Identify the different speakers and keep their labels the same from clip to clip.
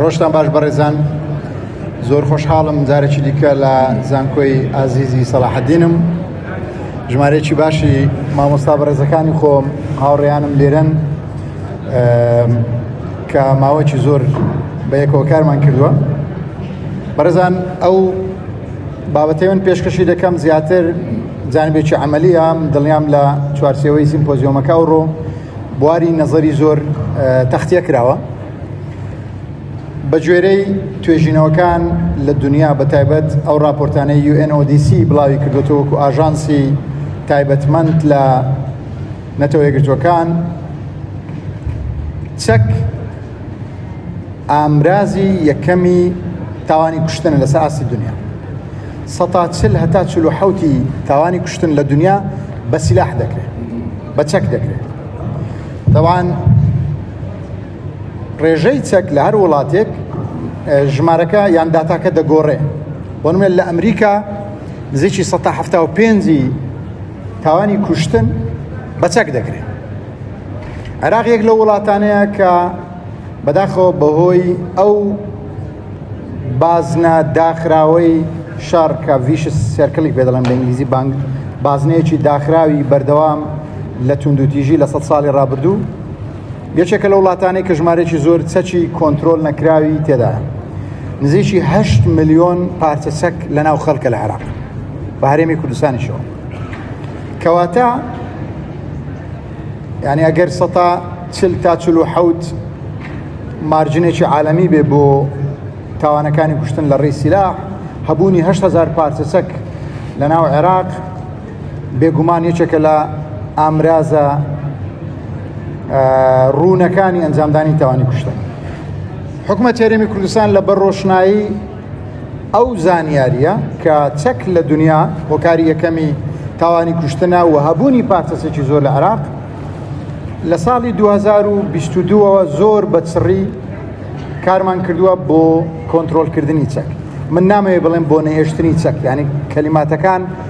Speaker 1: ڕۆژتان باش بەڕێزان زۆر خۆشحاڵم جارێکی دیکە لە زانکۆی ئازیزی سەڵاحدینم ژمارەیەکی باشی مامۆستا بەڕێزەکانی خۆم هاوڕێیانم لێرەن کە ماوەکی زۆر بە یەکەوە کارمان کردووە بەڕێزان ئەو بابەتی من پێشکەشی دەکەم زیاتر جانبێکی عملیە دڵنیام لە چوارسەوەی سیمپۆزیۆمەکە و ڕۆ بواری نەزەری زۆر تەختە کراوە بە گوێرەی توێژینەوەکان لە دنیا بە تایبەت ئەو راپۆرتانەی UNODC بڵاوی کردوتەوەکو ئاژانسی تایبەتمەند لە نەتەوە یەکگرتوەکان چەک ئامرازی یەکەمی تاوانی کوشتن لەسەر ئاستی دنیا سەتا چل هەتا چل و حوتی تاوانی کوشتن لە دنیا بە سیلاح دەکرێت بە چەک دەکرێت تەوان ڕێژەی چەک لە هەر وڵاتێک ژمارەکە یان داتاکە دەگۆڕێ بۆنمێت لە ئەمریکا نزیکی 1970 تاوانی کوشتن بە چەک دەکرێت عراق یەک لە وڵاتانەیە کە بەداخەوە بەهۆی ئەو بازنە داخراوەی شەڕ کە ڤیش سێرکڵی پێ دەڵێن بە ئینگلیزی بانگ بازنەیەکی داخراوی بەردەوام لە توندوتیژی لە سە ساڵی ڕابردوو یەکێکە لە وڵاتانی کە ژمارێکی زۆر چەکی کۆنتترۆل نەکراوی تێدا نزیکی هه میلیۆن پارچە چەک لە ناو خەڵکە لە عراق بە هەرێمی کوردستانیشەوە کەواتە یعنی ئەگەر سەتا چل تا چل و حەوت مارجنێکی عالەمی بێ بۆ تاوانەکانی کوشتن لە ڕێی سیلا هەبوونی هزار پارچەچەک لە ناو عێراق بێگومان یەکێکە لە ئامرازە ڕوونەکانی ئەنجامدانی تاوانی کوشتن حکومە تێرەمی کوردستان لە بەر ڕۆشنایی ئەو زانیارییە کە چەک لە دنیا هۆکاری یەکەمی تاوانی کوشتنە و هەبوونی پارتەسێکی زۆر لە عراق لە ساڵی 2022ەوە زۆر بە چڕی کارمان کردووە بۆ کۆنتترۆلکردنی چەک من نامەوێ بڵێم بۆ نەهێشتنی چەک ینی کەلیماتەکان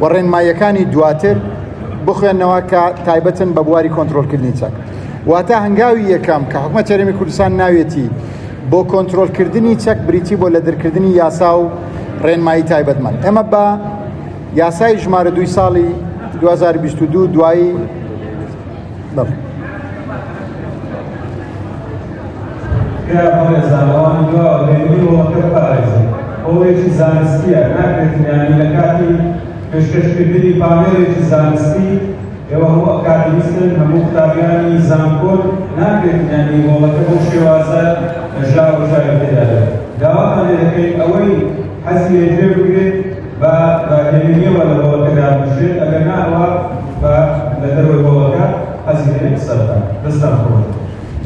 Speaker 1: و ڕێنماییەکانی دواتر بخوێنەوە کە تایبەتن بە بواری کۆنتترۆلکردنی چەک واتە هەنگاوی یەکەم کە حکومە چەرەمی کوردستان ناوێتی بۆ کۆنتترۆلکردنی چەک بریتی بۆ لە دەرکردنی یاسا و ڕێنمایی تایبەتمان ئەمە بە یاسای ژمارە دوی ساڵی 2022 دوایی بەڵێ.
Speaker 2: تکایە بەڕێزان ئەوان دواوە بێنی وڵەکە بپارێزن ئەوەیەکی زانستیە ناکرێت یانی لە کاتی پێشکەشکردنی پامێرێکی زانستی ئێوە هەموو ئەکادیمیستن هەموو قوتابیانی زانکۆن ناکرێت یانی وڵەکە بۆ شێوازە ژاوە ژاوی تێدا داواتان لێ دەکەین ئەوەی حەزی لێ گوێ بگرێت بە داگیرکەریەوە لە هۆڵەکە
Speaker 1: دابنیشێت ئەگەر نا ئەوا بە لە دەرەوەی هۆڵەکە حەزی دەکەن قسە بکات دەستان خۆش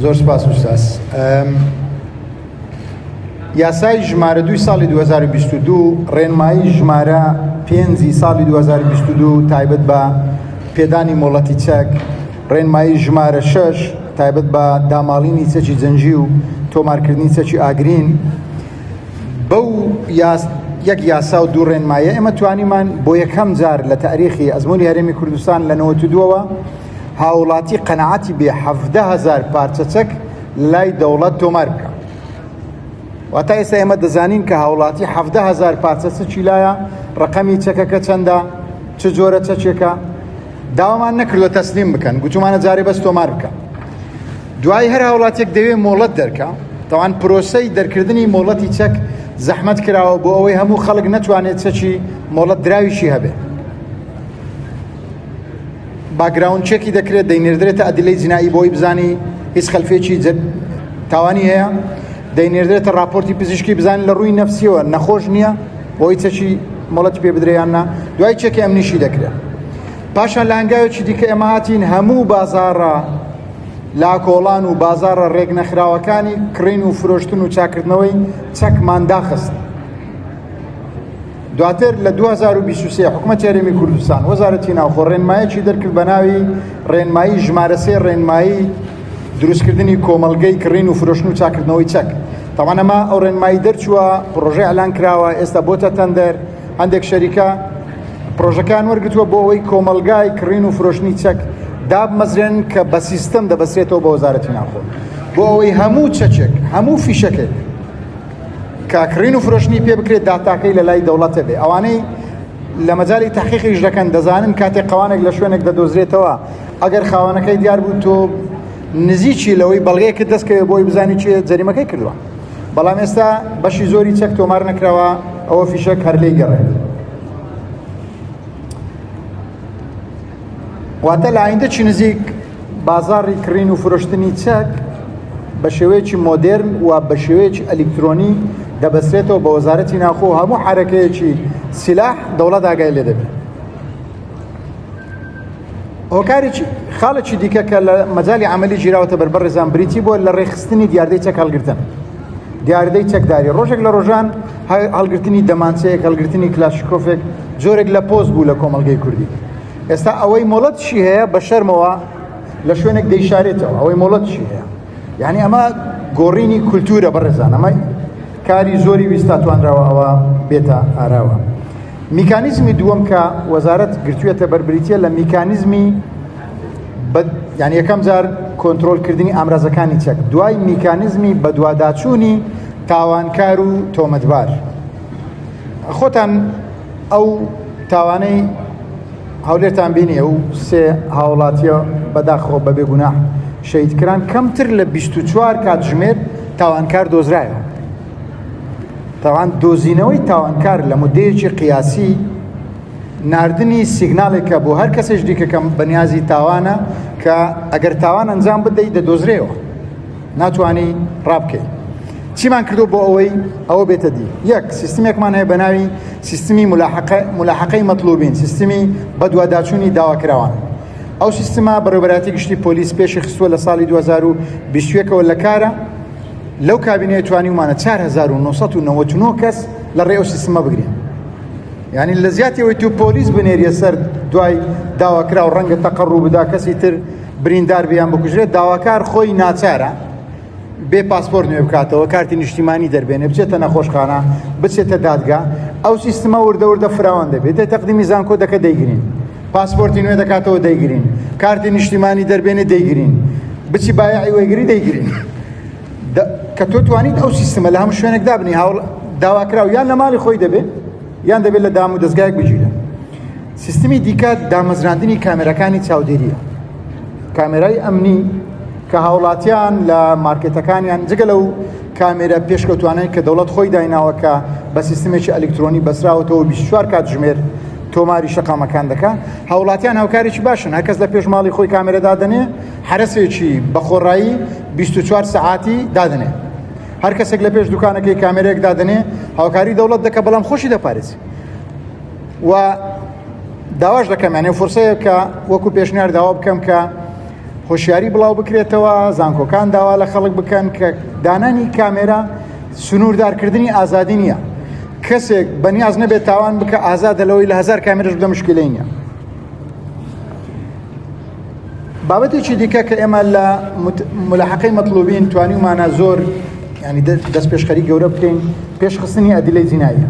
Speaker 1: زۆر سپاس وستاس یاسای ژمارە دوی ساڵی 2022 ڕێنمایی ژمارە پێنجی ساڵی 2022 تایبەت بە پێدانی مۆڵەتی چەک ڕێنمایی ژمارە شش تایبەت بە داماڵینی چەکی جەنجی و تۆمارکردنی چەکی ئاگرین بەو یاس یەک یاسا و دوو ڕێنمایە ئێمە توانیمان بۆ یەکەم جار لە تاریخی ئەزمموی هەرێمی کوردستان لە نەوەدووەوە هاوڵاتی قەنەعاتی بێ هزار پارچەچەک لای دەوڵەت تۆمار بکە واتا ئێستا ئێمە دەزانین کە هاوڵاتی هزار پارچەچی لایە ڕقەمی چەکەکە چەندە چ جۆرە چەچێکە داوامان نەکردوە تەسلیم بکەن گوتومانە جارێ بەس تۆمار بکە دوایی هەر هاوڵاتیەک دەوێ مۆڵەت دەرکا تاوان پرۆسەی دەرکردنی مۆڵەتی چەک زەحمەت کراوە بۆ ئەوەی هەموو خەڵک نەتوانێت چەکی مۆڵەت دراویشی هەبێت باگراون چێکی دەکرێت دەینێردرێتە ئەدلەی جنایی بۆی بزانی هیچ خەلفێکی تاوانی هەیە دەینێردرێتە راپۆرتی پزیشکی بزانین لە ڕووی نەفسیەوە نەخۆش نییە بۆی چەکی مڵەت پێ بدریاننا دوای چێکی ئەمنیشی دەکرێت پاشان لە هەنگاوێکی دیکە ئێمە هاتین هەموو بازارە لە کۆڵان و بازاڕە ڕێکنەخراوەکانی کڕین و فرۆشتن و چاکردنەوەی چەکمان داخست. دواتر لە 2023 حکومەت یاریمی کوردستان وەزارەتی ناوخۆ ڕێنمایەکی دەرکرد بە ناوی ڕێنمایی ژمارەسێ ڕێنمایی دروستکردنی کۆمەلگەی کڕین و فرۆشن و چاکردنەوەی چەک تاوانەما ئەو ڕێنمایی دەرچووە پرۆژه ئەلان کراوە ئێستا بۆتە تەندەر هەندێک شەریکە پرۆژەکان وەرگتووە بۆ ئەوەی کۆمەلگای کڕین و فرۆشتنی چەک دابمەزرێن کە بە سیستم دەبەسێتەوە بە وەزارەتی ناخۆ بۆ ئەوەی هەموو چەچێک هەموو فیشەکێک کاکڕین و فرۆشتنی پێ بکرێت داتاکەی لە لای دەوڵەتە بێ ئەوانەی لە مەجای تحقیقیش دەکەن دەزانن کاتێک قوانێک لە شوێنێک دەدۆزرێتەوە ئەگەر خاوەنەکەی دیار بوو تۆ نزیکی لەوەی بەڵگەیەکە دەستکەوێت بۆی بزانانی چێ جەریمەکەی کردووە بەڵام ئێستا بەشی زۆری چەک تۆمار نەکراوە ئەوە فیشەک هەر لێی گەڕێت واتە لە ئایندە چی نزیک بازاری کڕین و فرۆشتنی چەک بە شێوەیەکی مۆدرن و بە شێوەیەکی ئەلیکترۆنی دەبەسرێتەوە بە وەزارەتی ناخۆ هەموو حرەکەیەکی سیلاح دەوڵەت ئاگای لێ دەبێت هۆکارێکی خاڵێکی دیکە کە لە مەجای عملی گیراوەتە بەر بەڕێزان بریتی بۆ لە ڕێخستنی دیاردەی چەک هەڵگرتن دیاردەی چەکداری ڕۆژێک لە ڕۆژان هەڵگرتنی دەمانچەیەک هەڵگرتنی کلاشکۆفێک جۆرێک لە پۆست بوو لە کۆمەلگەی کوردی ئێستا ئەوەی مۆڵەتشی هەیە بە شەرمەوە لە شوێنێک دەیشارێتەوە ئەوەی مۆڵەتشی هەیە یعنی ئەمە گۆڕینی کولتورە بەڕێزان ئەمە کاری زۆری ویستا توانراوە ئەوە بێتە ئاراوە میکانیزمی دووەم کە وەزارەت گرتوێتە بەربریتە لە میکانیزمی یان یەکەم جار کۆنتترۆلکردنی ئامرازەکانی چەک دوای میکانزمی بەدواداچوونی تاوانکار و تۆمەتبار خۆتان ئەو تاوانەی هەولێرتان بینی ئەو سێ هاوڵاتیە بەداخۆ بەبێ گوناح شەید کران کەمتر لە 24 کاتژمێر تاوانکار دۆزرایەوە تاوان دۆزینەوەی تاوانکار لە مدەیەکی قیاسی نردنی سیگنالێکە بۆ هەر کەسێش دیکەکەم بەنیازی تاوانە کە ئەگەر تاوان ئەنجام بدەیت دەدۆزرێەوە ناتوانی ڕابکەی چیمان کردو بۆ ئەوەی ئەوە بێتە دی یەک سیستمێکمان هەیە بە ناوی سیستمی ملاحقەی مەطلوبین سیستمی بەدواداچوونی داواکراوان ئەو سیستما بەڕێبەراتی گشتی پۆلیس پێشی خستووە لە ساڵی 2020ەوە لە کارە لەو کابینەیە توانیمانە 1990 کەس لە ڕێ ئەو سیستمە بگرین ینی لە زیاتیەوەی تو پۆلیس بنێریە سەر دوای داواکرا و ڕەنگە تەقەڕوو بدا کەسی تر بریندار بیان بکوژرێت داواکار خۆی ناچارە بێ پاسپۆر نوێ بکاتەوە کارتی نیشتیمانی دەربێنێ بچێتە نەخۆشخانە بچێتە دادگا ئەو سیستمە وردەوردە فراوان دەبێت دە تەقدیمی زانکۆ دەکە دەیگرین پاسپۆرتی نوێ دەکاتەوە دەیگرین کارتی نیشتیمانی دەربێنێ دەیگرین بچی بایعی وەگری دەیگرین کە تۆ توانیت ئەو سیستمە لە هەموو شوێنێک دابنی هاوڵ داواکراو یان لە ماڵی خۆی دەبێت یان دەبێت لە دام و دەستگایك بگیرە سیستمی دیکە دامەزراندنی کامێرەکانی چاودێریە کامێرای ئەمنی کە هاوڵاتیان لە مارکێتەکانیان جگە لەو کامێرە پێشکەوتوانەی کە دەوڵەت خۆی دایناوەکە بە سیستمێکی ئەلکترۆنی بەسراوەتەوە 24 کات ژمێر تۆماری شەقامەکان دەکە هاوڵاتیان هاوکارێکی باشن هەکەس لە پێشماڵی خۆی کامێرە دادنێ حرەسێکی بەخۆڕایی 24 سعاتی دادنێ هەر کەسێک لە پێش دوکانەکەی کامێرێک دادنێ هاوکاری دەوڵەت دەکە بەڵام خۆشی دەپارێزی و داواش دەکەم یانێ فرسەیە کە وەکو پێشنیار داوا بکەم کە هۆشیاری بڵاو بکرێتەوە زانکۆکان داوا لە خەڵک بکەن کە دانانی کامێرا سنووردارکردنی ئازادی نییە کەسێک بەنیاز نەبێت تاوان بکە ئازادە لەوەی لە هزار کامێرش بدە مشکلی نیە بابەتێکی دیکە کە ئێمە لە ملحقی مەطلوبین توانیمانە زۆر ینی دەست پێشخەری گەورە بکەین پێشخستنی ئەدیلەی جینایە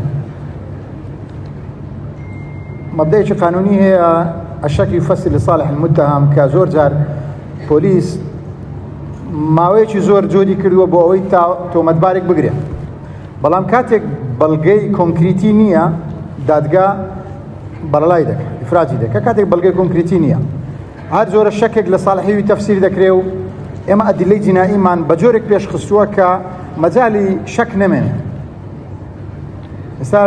Speaker 1: مەبدەیەکی قانونی هەیە ئەشەکی فەسی لە ساڵح متهام کە زۆر جار پۆلیس ماوەیەکی زۆر جۆری کردووە بۆ ئەوەی تا تۆمەتبارێک بگرێت بەڵام کاتێک بەڵگەی کۆنکریتی نییە دادگا بەرەڵای دەکە ئفراجی دەکە کاتێک بەڵگەی کۆنکریتی نییە هەر جۆرە شەکێک لە ساڵحیوی تەفسیر دەکرێ و ئێمە ئەدلەی جیناییمان بە جۆرێک پێشخستووە کە مەجای شەک نەمێنێت ئێستا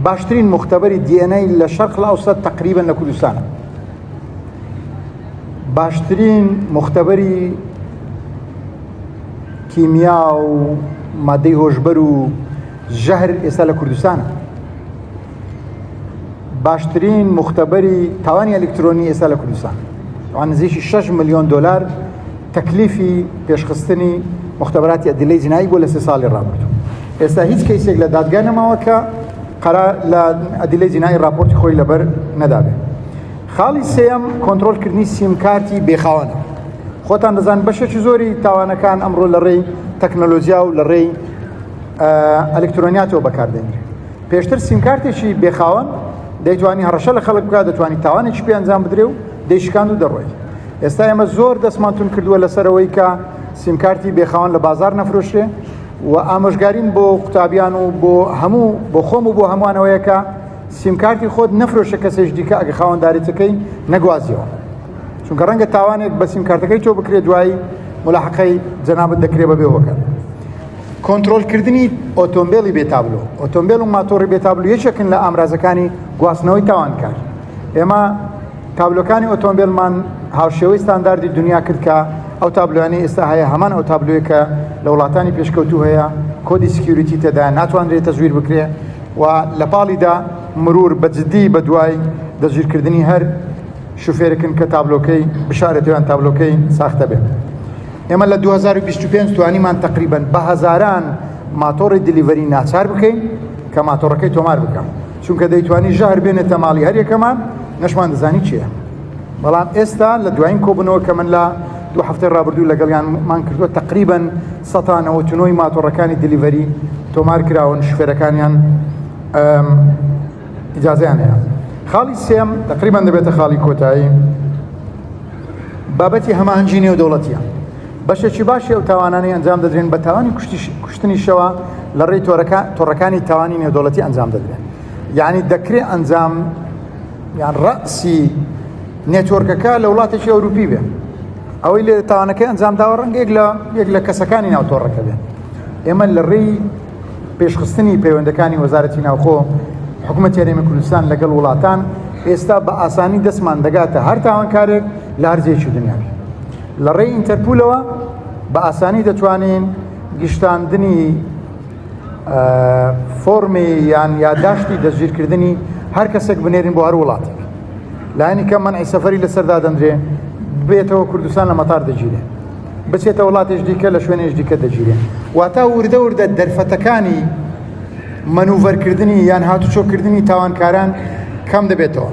Speaker 1: باشترین مختبەری دیێنەی لە شەرق لە ئەوسەر تقریبن لە کوردستانە باشترین مختبەری کیمیا و مادەی هۆشبەر و ژەهر ئێستا لە کوردستانە باشترین مختبەری تاوانی ئەلکترۆنی ئێستا لە کوردستان نزیکی 6 میلیۆن دلار تەکلیفی پێشخستنی مختبراتی ئەدلەی جنایی بۆ لە سێ ساڵی ڕابردوو ئێستا هیچ کەیسێک لە دادگا نەماوە کە قەرار لە ئەدلەی جنایی راپۆرتی خۆی لەبەر نەدابێت خاڵی سێم کۆنتترۆلکردنی سیمکارتی بێخاوەنە خۆتان دەزان بەشێکی زۆری تاوانەکان ئەمڕۆ لە ڕێی تەکنەلۆژیا و لە ڕێی ئەلکترۆنیاتەوە بەکاردێنرێت پێشتر سیمکارتێکی بێخاوەن دەیتوانی هەڕەشە لە خەڵک بکات دەتوانانی تاوانێکی پێ ئەنجام بدرێ و دەیشکان و دەڕۆی ئێستا ئێمە زۆر دەستمانتون کردووە لەسەرەوەی کە سیمکارتی بێخاوەن لە بازار نەفرۆشێ و ئامۆژگاریم بۆ قوتابیان و بۆ هەموو بۆ خۆم و بۆ هەمووانەوەیەکە سیمکارتی خۆت نەفرۆشە کەسێش دیکە ئەگە خاوەنددارێتەکەی نەگوازیەوە چونکە ڕەنگە تاوانێک بە سیمکارتەکەی تۆ بکرێت دوایی ملاحقەی جەنابەت دەکرێ بە بێوەکە کۆنترۆلکردنی ئۆتۆمبیلی بێتابلو ئۆتۆمبیل و ماتۆڕی بێتابلو یەکێکن لە ئامرازەکانی گواستنەوەی تاوانکار ئێمە تابلۆکانی ئۆتۆمبیلمان هاوشێوەی ستانداردی دنیا کرد کە ئەو تابلوانی ئێستا هەیە هەمان ئەو تابلوێک کە لە وڵاتانی پێشکەوتو هەیە کۆدی سکیوریتی تێدا ناتوانرێت تەزویر بکرێ و لە پاڵیدا مرور بە جددی بە دوای دەستگیرکردنی هەر شوفێرکن کە تابلۆکەی بشارێتیان تابلۆکەی ساختە بێت. ئێمە لە دوو هەزار و بیست و پێنج توانیمان تەقریبەن بە هەزاران ماتۆڕی دلیڤەری ناچار بکەین کە ماتۆڕەکەی تۆمار بکەم چونکە دەیتوانی ژەهر بێنێتە ماڵی هەریەکەمان نەشمان دەزانی چییە بەڵام ئێستا لە دوایین کۆبنەوە کە من لە دو هەفتەی ڕابردوو لەگەڵیانمان کردووە تقریبن سەتانەوە تونۆی ماتۆڕەکانی دلیڤەری تۆمار کراون شفێرەکانیان ئجازیان هەیە خاڵی سێم تقریبان دەبێتە خاڵی کۆتایی بابەتی هەماهەنگی نێودەوڵەتییە. بەشێکی باشی ئەو تاوانانەی ئەنجام دەدرێن بە تاوانی کوشتنیشەوە لە ڕێی تۆڕەکانی تاوانی نێودەوڵەتی ئەنجام دەدرێن یعنی دەکرێ ئەنجام یان ڕەسی نێتۆرکەکە لە وڵاتێکی ئەوروپی بێ ئەوەی لێ تاوانەکەی ئەنجام داوە ڕەنگێک لە یەک لە کەسەکانی ناوتۆڕەکە بێن ئێمە لە ڕێی پێشخستنی پەیوەندەکانی وەزارەتی ناوخۆ حکومەت یاریمە کوردستان لەگەڵ وڵاتان ئێستا بە ئاسانی دەستمان دەگاتە هەر تاوانکارێک لە هەرزێکی دنیا لە ڕێی ئینتەرپولەوە بە ئاسانی دەتوانین گشتاندنی فۆرمی یان یاداشتی دەستگیرکردنی هەر کەسێک بنێرین بۆ هەر وڵاتێک لایەنی کە منعی سەفری لەسەر دادەندرێ بێتەوە کوردستان لە مەتار دەگیرێ بچێتە وڵاتیش دیکە لە شوێنێش دیکە دەگیرێن واتا وردە وردە دەرفەتەکانی منوڤەرکردنی یان هاتوچۆکردنی تاوانکاران کەم دەبێتەوە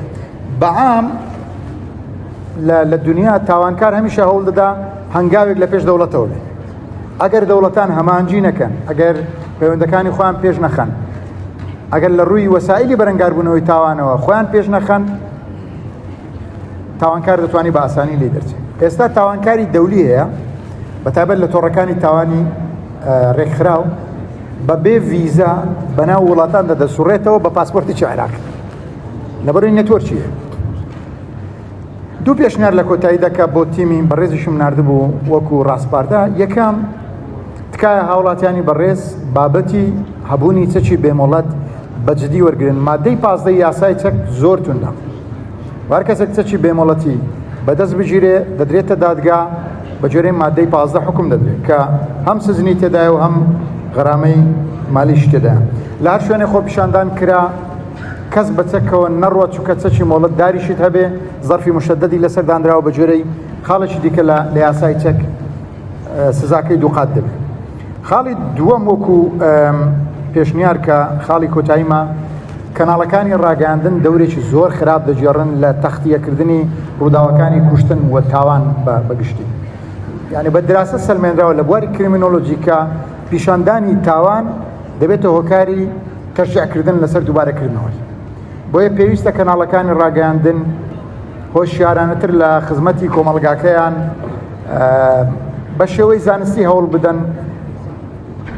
Speaker 1: بەعام لە دنیا تاوانکار هەمیشە هەوڵ دەدا هەنگاوێک لە پێش دەوڵەتەوە بێت ئەگەر دەوڵەتان هەمانجی نەکەن ئەگەر پەیوەندەکانی خۆیان پێش نەخەن ئەگەر لە ڕووی وەسایلی بەرەنگاربوونەوەی تاوانەوە خۆیان پێش نەخەن تاوانکار دەتوانانی بە ئاسانی لێ دەرچێت ئێستا تاوانکاری دەولی هەیە بەتابەت لە تۆڕەکانی تاوانی ڕێکخراو بە بێ ویزا بەناو وڵاتان دەدەسوڕێتەوە بە پاسپۆرتی عێراق لەبەروی نەتۆرچی دوو پێشنار لە کۆتایی دەکە بۆ تیمی بەڕێزیشم نردبوو وەکو ڕاستپاردا یەکەم تکایە هاوڵاتیانی بەڕێز بابەتی هەبوونی چەکی بێمۆڵەت بەجددی وەرگن مادەی پازدە یاسای چەک زۆر توندا و هەر کەسێک کچەکی بێمۆڵەتی بەدەست بگیرێ دەدرێتە دادگا بە جۆرەی مادەی پازدە حکم دەدرێت کە هەم سزنی تێدای و هەم غەرامەی مالیش تێدا لە هەر شوێنێ خۆ پیشاندان کرا کەس بەچەکەوە نەڕوە چکە چەکی مۆڵەت داریشت هەبێ زەرفی مشەدەدی لەسەر دانراوە بە جۆرەی خاڵێکی دیکە لە لە یاسای چەک سزاکەی دووقات دەبێت خاڵی دووەم وەکو پێشنیار کە خاڵی کۆتاییمە کەناڵەکانی ڕاگەاندن دەورێکی زۆر خراپ دەگێڕن لە تەختیەکردنی ڕووداوەکانی کوشتن و تاوان بەگشتی یعنی بە دراسە سلمێنراوە لە بواری کرمینۆلۆژیکە پیشاندانی تاوان دەبێتە هۆکاری تەشعکردن لەسەر دووبارەکردنەوەی بۆیە پێویستە کەناڵەکانی ڕاگەاندن هۆشیارانەتر لە خزمەتی کۆمەڵگاکەیان بە شێوەی زانستی هەوڵ بدەن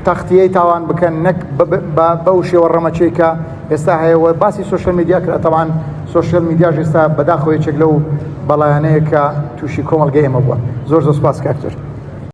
Speaker 1: تەختیەی تاوان بکەن نەک بەو شێوە ڕەمەچەی کە ئێستا هەیە وە باسی سوۆشل میدیا کرا تەوان سوۆشل میدیا ژێستا بەداخۆیەکێک لەو بەڵایانەیە کە تووشی کۆمەلگە ئێمە بووە زۆر زۆر سپاس کاکتر